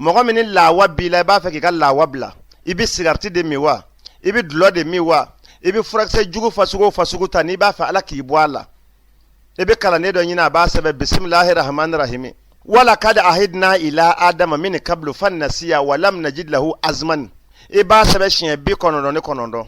mɔgɔ min ni lawa b'i la i b'a fɛ k'i ka lawa bila i bɛ sigarati de min wa i bɛ dulɔ de min wa i bɛ furakisɛ jugu fasugu o fasugu ta n'i b'a fɛ ala k'i bɔ a la i bɛ kalanden dɔ ɲini a b'a sɛbɛn bisimilahi rahmani rahimi wala kad ahidna ila adama min kablu fan nasiya wa lam najid lahu azman i b'a sɛbɛn siɲɛ bi kɔnɔntɔn ni kɔnɔntɔn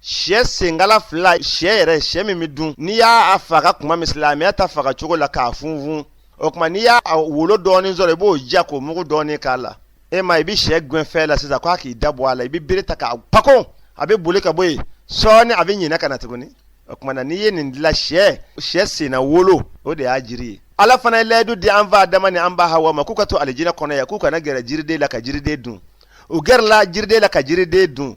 sɛ senkala fila sɛ yɛrɛ sɛ min bɛ dun n'i y'a faga kuma min silamɛya ta faga cogo la k'a funfun o kuma n'i y'a wolo dɔɔnin sɔrɔ i b'o ja k'o mugu dɔɔnin k'a la e ma i bɛ sɛ gɛn fɛn la sisan k'a k'i da bɔ a la i bɛ bere ta k'a pako a bɛ boli ka bɔ yen sɔɔni a bɛ ɲinɛ ka na tuguni o kuma na n'i ye nin dilan sɛ sɛ senna wolo o de y'a jiri ye ala fana ye layidu di an fa adama ni an ba hawa ma k'u ka to alijinɛ kɔnɔ yan k'u kana gɛrɛ jiriden la ka jiriden dun u gɛrɛla jiriden la ka jiriden dun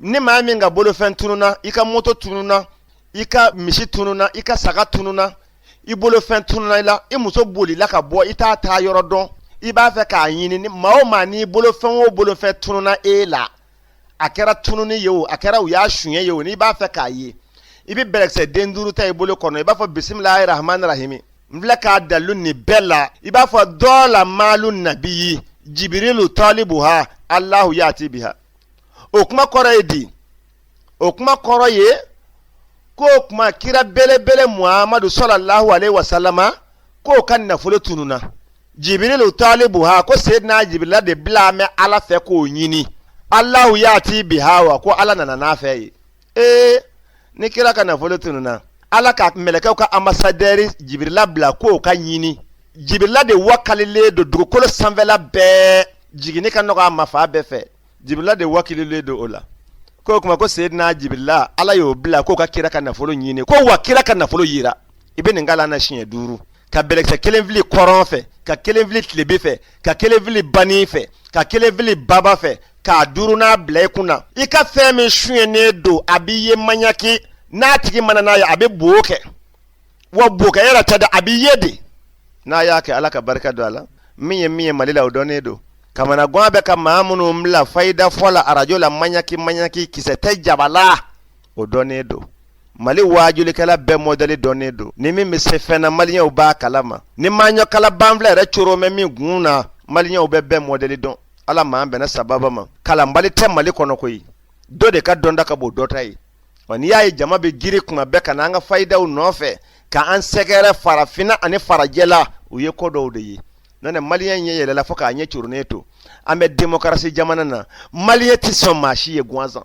ni maa min ka bolofɛn tununa i ka moto tununa i ka misi tununa i ka saga tununa i bolofɛn tununa i la i muso bolila ka bɔ i t'a taa yɔrɔ dɔn i b'a fɛ k'a ɲini maa o maa n'i bolofɛn o bolofɛn tununa e la a kɛra tununi ye o a kɛra u y'a suɲɛ ye o n'i b'a fɛ k'a ye i bɛ bɛlɛkisɛ den duuru ta i bolo kɔnɔ i b'a fɔ bisimilahi rahmani rahimi n filɛ k'a dalu nin bɛɛ la i b'a fɔ dɔla maalu nabi jibirilu tɔlibu ha alahu yaati biha o kuma kɔrɔ ye di o kuma kɔrɔ ye ko o kuma kira belebele muhamadu sɔlɔlahu aleyhi wa salama k'o ka nafolo tununa jibirilu talibu ha ko seydina jibirila de bila mɛ ala fɛ k'o ɲini alahu yaati biha wa ko ala nana n'a fɛn ye ee ni kira ka nafolo tununna ala ka mɛlɛkɛw ka ambasadɛri jibirila bila k'o ka ɲini jibirila de wakalilen don dugukolo sanfɛla bɛɛ jiginni ka nɔgɔ a ma fan bɛɛ fɛ jibirila de wakililen don o la ko o kuma ko seyidina jibirila ala y'o bila k'o ka kira ka nafolo ɲini ko wa kira ka nafolo yera i bɛ nin kalan a siɲɛ duuru ka bɛlɛkisɛ kelen fili kɔrɔn fɛ ka kelen fili tilebin fɛ ka kelen fili banin fɛ ka kelen fili baba fɛ k'a duurunan bila i kun na i ka fɛn min suɲɛnen don a bɛ ye maɲaki n'a tigi ma na n'a ye a bɛ bo kɛ wa bo kɛ yɛrɛ tɛ dɛ a bɛ ye de n'a y'a kɛ ala ka barika don a la min ye min ye mali la o dɔnnen don kamanagan bɛ ka maa minnu bila fayida fɔ la arajo la maɲaki maɲaki kisɛ tɛ jaba la o dɔnnen don mali waajulikɛla bɛɛ mɔdɛli dɔnnen don ni min bɛ se fɛn na maliyɛnw b'a kalama ni maɲɔkala banfila yɛrɛ coron bɛ min kun na maliyɛnw bɛ bɛɛ mɔdɛli dɔn ala m'an bɛnna sababa ma kalanbali tɛ mali kɔnɔ koyi dɔ de ka dɔnta ka bon dɔ ta ye wa n'i y'a ye jama bɛ giri kuma bɛɛ ka na an ka fayidaw nɔfɛ ka an sɛgɛrɛ farafinna ani farajɛla u ye ko dɔw de ye n'o tɛ maliyɛn ɲɛ yɛlɛla fo k'a ɲɛ coronnen to an bɛ demokarasi jamana na maliyɛn tɛ sɔn maa si ye gansan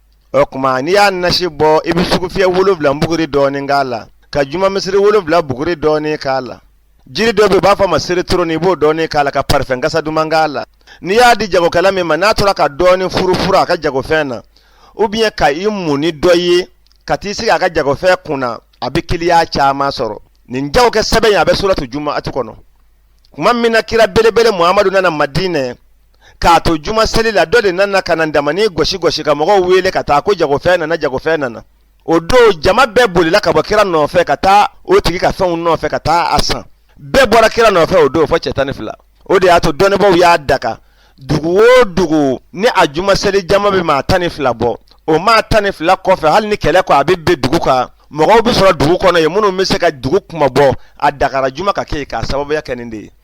o kuma n'i y'a nasi bɔ i bɛ sugufiyɛ wolonwula buguri dɔɔnin k'a la ka juma misiri wolonwula buguri dɔɔnin k'a la jiri dɔ bɛ yen u b'a fɔ a ma seretoronin i b'o dɔɔnin k'a la ka parifɛn kasa duman k'a la n'i y'a di jagokɛla min ma n'a tora ka dɔɔnin furufuru a ka jagofɛn na ou bien ka i mun ni dɔ ye ka t'i sigi a ka jagofɛn kunna a bɛ kiliyan caman sɔrɔ nin jago kɛ sɛbɛn in a bɛ suratu jumu'ati kɔnɔ kuma min na kira belebele muhamadu nana madinɛ k'a to juma seli la dɔ de nana ka na tamani gosi gosi ka mɔgɔw wele ka taa ko jagofɛn nana jagofɛn nana o don jama bɛɛ bolila ka bɔ kira nɔfɛ ka taa o tigi ka fɛnw nɔfɛ ka taa a san bɛɛ bɔra kira nɔfɛ o don fɔ cɛ tan ni fila o de y'a to dɔnnibaaw y'a daga dugu o dugu ni a juma seli jama bɛ maa tan ni fila bɔ o maa tan ni fila kɔfɛ hali ni kɛlɛ ko a bɛ bin dugu kan mɔgɔw bɛ sɔrɔ dugu kɔnɔ yen minnu bɛ se ka dugu kunmabɔ a dagara juma ka kɛ yen k'a sababuya kɛ nin de ye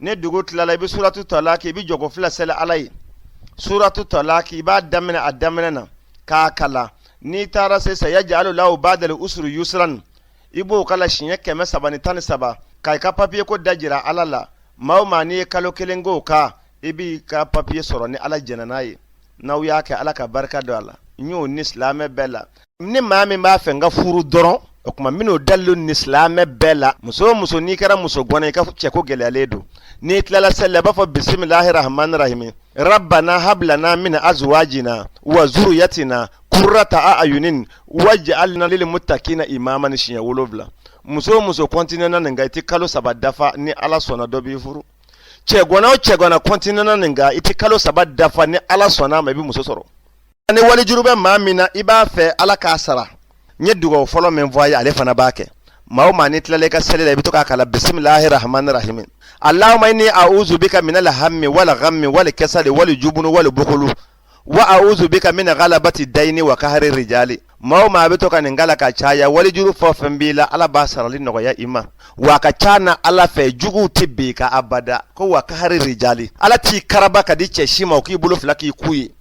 ni dugu tilala i bɛ suratu talaki i bɛ jɔko fila seli ala ye suratu talaki i b'a daminɛ a daminɛ na k'a kalan n'i taara se sayaj'alu lahu ba'dal usuru yusuran i b'o kalan siɲɛ kɛmɛ saba ni tan ni saba ka i ka papiye ko da jira ala la maa o maa n'i ye kalo kelen k'o kan i b'i ka papiye sɔrɔ ni ala jɛnna n'a ye n'aw y'a kɛ ala ka barika don a la n y'o ni silamɛ bɛɛ la ni maa min b'a fɛ n ka furu dɔrɔn o kuma n bɛn'o dalilu ni silamɛ bɛɛ la muso o muso n'i kɛra musogana i ka cɛko gɛlɛyalen don n'i tilala seli la i b'a fɔ bisimilahi rahmani rahimi rabbana hablana min azwajina wa zuriyatina kurrata a ayunin waj'alna lil muttaqina imaman siɲɛ wolonwula muso o muso kɔntinena nin kan i tɛ kalo saba dafa ni ala sɔnna dɔ b'i furu cɛgana o cɛgana kɔntinena nin kan i tɛ kalo saba dafa ni ala sɔnna a ma i bɛ muso sɔrɔ ni walijuru bɛ maa min na i b'a fɛ ala k'a sara n ye dugawu fɔlɔ min fɔ a ye ale fana b'a kɛ maa o maa n'i tilala i ka seli la i bɛ to k'a kalan bisimilahi rahmani rahimi alahuma ini a uzu bika minal hami wali gami wali kasali wali jubunu wali bukulu wa a uzu bika min galabati dayini wa kahari rijali maa o maa a bɛ to ka nin kalan ka caya walijuru fɛn o fɛn b'i la ala b'a sarali nɔgɔya i ma wa a ka ca na ala fɛ juguw tɛ bin i kan abada ko wa kahari rijali ala t'i karaba ka di cɛ si ma o k'i bolo fila k'i ku ye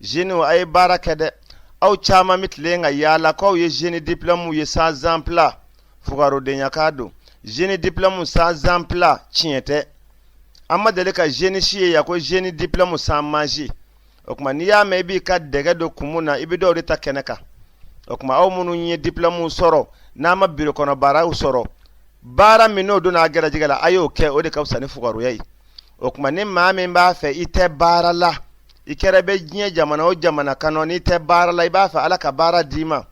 Jeunes a ye baara kɛ dɛ aw caman bɛ tilen ka yaala k'aw ye jeune diplôme ye sans emploi fugarudenyakan don jeune diplôme sans emploi tiɲɛ tɛ an ma deli ka jeune si ye yan ko jeune diplôme sans manger o kuma n'i y'a mɛn i b'i ka dɛgɛ don kumu na i bɛ dɔw de ta kɛnɛ kan o kuma aw minnu ye diplôme sɔrɔ n'aw ma biro kɔnɔ baaraw sɔrɔ baara min n'o donna a garijɛgɛ la a y'o kɛ o de ka fisa ni fugaruya ye o kuma ni maa min b'a fɛ i tɛ baara la i kɛra bɛ diɲɛ jamana o jamana kɔnɔ n'i tɛ baara la i b'a fɛ ala ka baara d'i ma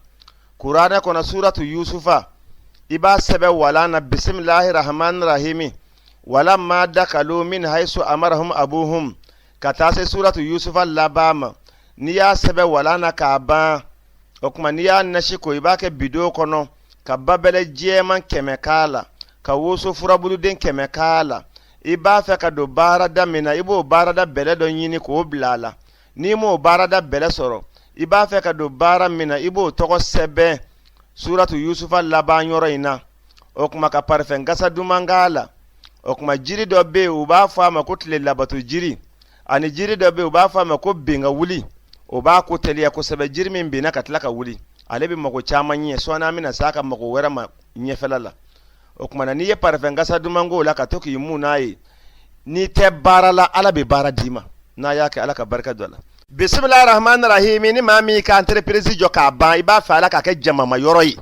kuranɛ kɔnɔ suratu yusufa i b'a sɛbɛn walan na bisimilahi rahmani rahimi wala ma dakalu min haisu amarahum abuhum ka taa se suratu yusufa laban ma n'i y'a sɛbɛn walan na k'a ban o kuma n'i y'a nasi ko i b'a kɛ bidɔn kɔnɔ ka babɛlɛ jɛman kɛmɛ k'a la ka woso furabuluden kɛmɛ k'a la i b'a fɛ ka don baarada min na i b'o baarada bɛlɛ dɔ ɲini k'o bila a la n'i m'o baarada bɛlɛ sɔrɔ i b'a fɛ ka don baara min na i b'o tɔgɔ sɛbɛn suratu yusufa laban yɔrɔ in na o kuma ka parifɛn kasa duman k'a la o kuma jiri dɔ bɛ yen u b'a fɔ a ma ko tile labato jiri ani jiri dɔ bɛ yen u b'a fɔ a ma ko ben ka wuli o b'a ko teliya kosɛbɛ jiri min benna ka tila ka wuli ale bɛ mago caman ɲɛ sɔɔni an bɛna s'a ka mago wɛrɛ ma ɲɛfɛla la o kuma na n'i ye parifɛn kasa duman k'o la ka to k'i mun n'a ye n'i tɛ baara la ala bɛ baara d'i ma n'a y'a kɛ ala ka barika don a la bisimilahi rahmani rahimi ni maa min ka entreprise jɔ k'a ban i b'a fɛ ala k'a kɛ jamama yɔrɔ ye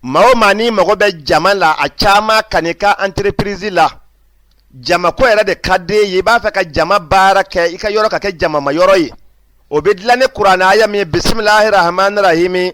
maa o maa n'i mago bɛ jama la a caman ka n'i ka entreprise la jamako yɛrɛ de ka d'e ye i b'a fɛ ka jama baara kɛ i ka yɔrɔ ka kɛ jamama yɔrɔ ye o bɛ dilan ni kuranɛ aya min ye bisimilahi rahmani rahimi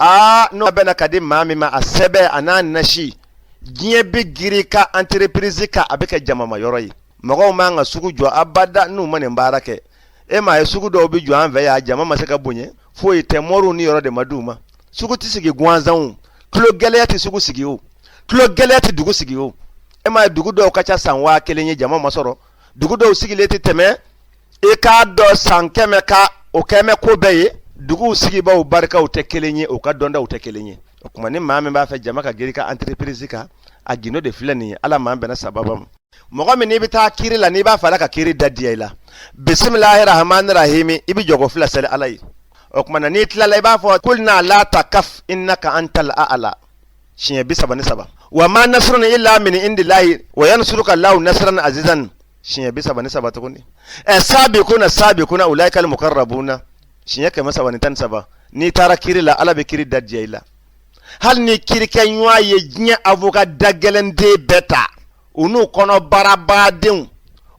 aa n'o bɛna ka di maa min ma a sɛbɛn a n'a nasi diɲɛ bɛ girin ka entreprise kan a bɛ kɛ jamama yɔrɔ ye mɔgɔw man kan ka sugu jɔ abada n'u ma nin baara kɛ e m'a ye sugu dɔw bɛ jɔ an fɛ yan jama ma se ka bonya foyi tɛ mɔriw nin yɔrɔ de ma d'u ma sugu tɛ sigi gansan tulo gɛlɛya tɛ sugu sigi o tulo gɛlɛya tɛ dugu sigi o e m'a ye dugu dɔw ka ca san waa kelen ye jama ma sɔrɔ dugu dɔw sigilen tɛ tɛmɛ i k'a dɔn san kɛmɛ kan o kɛmɛ ko bɛɛ ye duguw sigibaaw barikaw tɛ kelen ye u ka dɔndaw tɛ kelen ye o kuma ni maa min b'a fɛ jama ka girin ka entreprise kan a gindo de filɛ nin ye ala m'an bɛnna sababu ma mɔgɔ min n'i bɛ taa kiri la n'i b'a fɛ ala ka kiri da diya i la bisimilahi rahmani rahimi i bɛ jɔko fila seli ala ye o kuma na n'i tilala i b'a fɔ kulna la takaf innaka antal a'la siɲɛ bi saba ni saba wa ma nasrun illa min indillahi wa yansuruka Allahu nasran azizan siɲɛ bi saba ni saba tuguni ɛ sabiquna sabiquna ulaikal muqarrabuna siɲɛ kɛmɛ saba ni tan ni saba n'i taara kiri la ala bɛ kiri da diya i la hali n'i kirikɛɲɔgɔn ye diɲɛ avoka dagɛlɛnden bɛɛ ta u n'u kɔnɔbarabadenw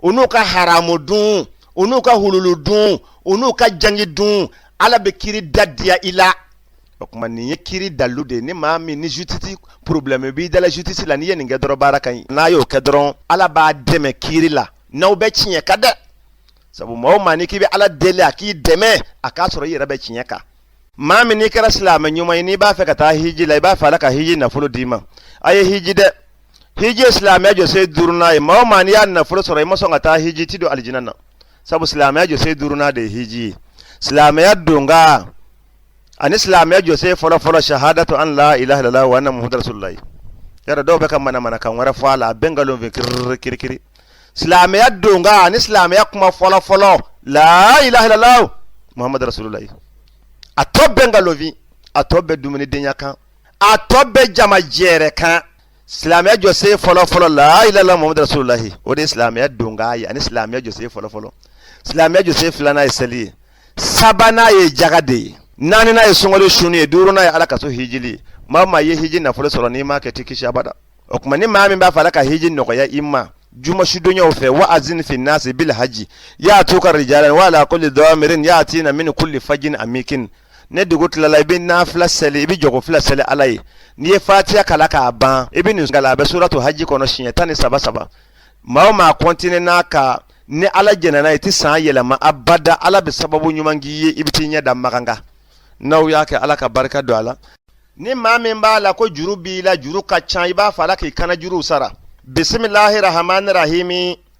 u n'u ka haramu dun u n'u ka hululu dun u n'u ka jangi dun ala bɛ kiri da diya i la o tuma nin ye kiri dalu de ye ni maa min ni jutisi porobilɛmu b'i dala jutisi la n'i ye nin kɛ dɔrɔn baara ka ɲi n'a y'o kɛ dɔrɔn ala b'a dɛmɛ kiri la n'aw bɛ tiɲɛ kan dɛ sabu maa o maa n'i k'i bɛ ala deli a k'i dɛmɛ a k'a sɔrɔ i yɛrɛ bɛ tiɲɛ kan maa min n'i kɛra silamɛ ɲuman ye n'i b'a fɛ ka taa hiji la i b'a fɛ ala ka hiji nafolo d'i ma a ye hiji dɛ hiji ye silamɛya jɔsen duurunan ye maa o maa n'i y'a nafolo sɔrɔ i ma sɔn ka taa hiji ti don alijinɛ na sabu silamɛya jɔsen duurunan de ye hiji ye silamɛya donkan ani silamɛya jɔsen fɔlɔ fɔlɔ shahadatu an la ilaha illallah wa anna muhammadar rasulullah yara dɔw bɛ ka manamanakan wɛrɛ fɔ a la a bɛɛ nkalon fin kirikiri kirikiri silamɛya donkan ani silamɛya kuma fɔlɔ fɔlɔ la ilaha illallah muhammadar rasulullah a tɔ bɛɛ nkalon fin a tɔ bɛɛ dumuni denya kan a tɔ bɛɛ jama jɛrɛ kan silamɛya jɔsen fɔlɔfɔlɔ la ilaha illallah muhammadar rasulullah o de ye silamɛya donkan ye ani silamɛya jɔsen fɔlɔfɔlɔ silamɛya jɔsen filanan ye seli ye sabanan ye jaga de ye naaninan ye sunkalo suni ye duurunan ye ala ka so hijili ye maa maa ye hiji nafolo sɔrɔ n'i m'a kɛ tɛ kisi abada o tuma ni maa min b'a fɛ ala ka hiji nɔgɔya i ma jumasudonyaw fɛ wa azini fi nasi bil haji yatuka rijalan wa ala kulli damirin yatina min kulli fajin amikin ni dugu tilala i bɛ nafila seli i bɛ jɔko fila seli ala ye n'i ye fatiya kalan k'a ban i bɛ nin kalan a bɛ suratu haji kɔnɔ siɲɛ tan ni saba saba maa maa kɔntinena a kan ni ala jɛnna n'a ye i tɛ san yɛlɛma abada ala bɛ sababu ɲuman k'i ye i bɛ t'i ɲɛ da makan kan n'aw y'a kɛ ala ka barika don a la ni maa min b'a la ko juru b'i la juru ka ca i b'a fɛ ala k'i kannajuruw sara bisimilahi rahamaani rahimi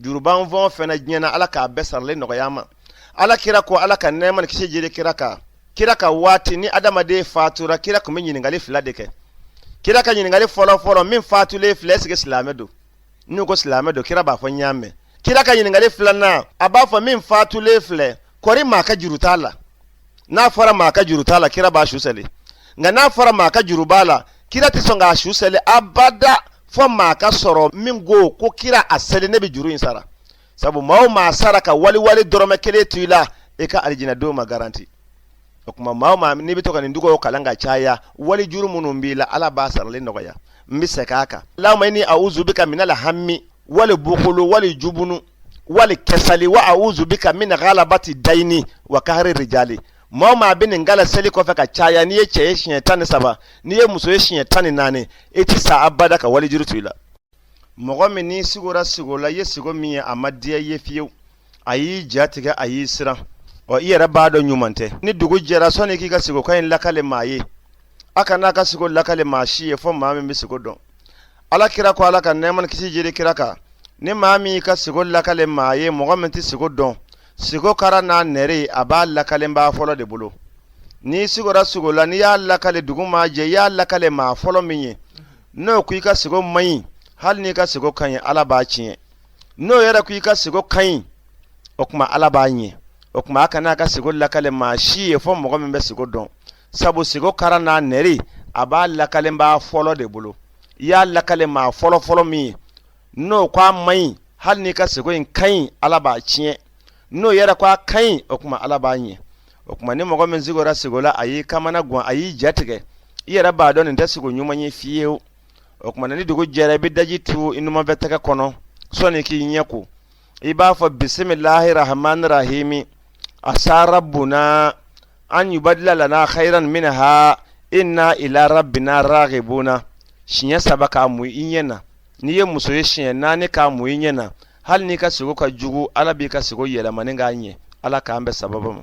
juru b'an fɛn o fɛn na diɲɛ na ala k'a bɛɛ sarali nɔgɔya an ma ala kira ko ala ka nɛɛma ni kisi jigin kira kan kira ka waati ni adamaden fatura kira tun bɛ ɲininkali fila de kɛ kira ka ɲininkali fɔlɔ fɔlɔ min fatulen filɛ ɛsike silamɛ don n'u ko silamɛ don kira b'a fɔ n y'a mɛn kira ka ɲininkali filanan a b'a fɔ min fatulen filɛ kɔri maa ka juru t'a la n'a fɔra maa ka juru t'a la kira b'a su seli nka n'a fɔra maa ka juru b'a la kira tɛ sɔn k'a su seli abada fɔ maa ka sɔrɔ min ko ko kira a seli ne bɛ juru in sara sabu maa o maa sara ka wali wari dɔrɔmɛ kelen to i la i ka alijinɛ don ma garanti o tuma maa o maa n'i bɛ to ka nin dugaw kalan ka caya wali juru minnu b'i la ala b'a sarali nɔgɔya n bɛ segin a kan lama ini awuzu bika minal hami wali bukulu wali jubunu wali kasali wa awuzu bika mina galabati dayini wa kahari rijali maa maa bɛ nin kalan seli kɔfɛ ka caya n'i ye cɛ ye siɲɛ tan ni saba n'i ye muso ye siɲɛ tan ni naani i ti sa abada ka walijuru to i la mɔgɔ min n'i sigora sigo la i ye sigo min ye a ma diya i ye fiyewu a y'i ja tigɛ a y'i siran ɔ i yɛrɛ b'a dɔn ɲuman tɛ ni dugu jɛra sɔnni k'i ka sigokan in lakale maa ye a kana a ka sigo lakale maa si ye fɔ maa min bɛ sigo dɔn ala kira ko ala ka nɛɛma ni kisi jiri kira kan ni maa min y'i ka sigo lakale maa ye mɔgɔ min tɛ sigo dɔn sigo kara n'a nɛre a b'a lakalenba fɔlɔ de bolo n'i sigora sigo la n'i y'a lakale dugu maa jɛ i y'a lakale maa fɔlɔ min ye n'o ko i ka sigo man ɲi hali n'i ka sigo ka ɲi ala b'a tiɲɛ n'o yɛrɛ ko i ka sigo ka ɲi o tuma ala b'a ɲɛ o tuma a kana a ka sigo lakale maa si ye fɔ mɔgɔ min bɛ sigo dɔn sabu sigo kara n'a nɛri a b'a lakalenba fɔlɔ de bolo i y'a lakale maa fɔlɔ fɔlɔ min ye n'o ko a man ɲi hali n'i ka sigo in ka ɲi ala b'a tiɲɛ n'o yɛrɛ ko a ka ɲi o tuma ala b'a ɲɛ o tuma ni mɔgɔ min sigora sigo la a y'i kamana gan a y'i jatigɛ i yɛrɛ b'a dɔn nin tɛ sigo ɲuman ye fiyewu o tuma ni dugu jɛra i bɛ daji tu i numanfɛ tɛgɛ kɔnɔ sɔni k'i ɲɛ ko i b'a fɔ bisimilahi rahmani rahimi asa rabbuna an yubadila lana khairan minha inna ila rabbina raghibuna siɲɛ saba k'a mu i ɲɛ na n'i ye muso ye siɲɛ naani k'a mu i ɲɛ na hali n'i ka sigo ka jugu ala b'i ka sigo yɛlɛmani k'a ɲɛ ala k'an bɛn sababu ma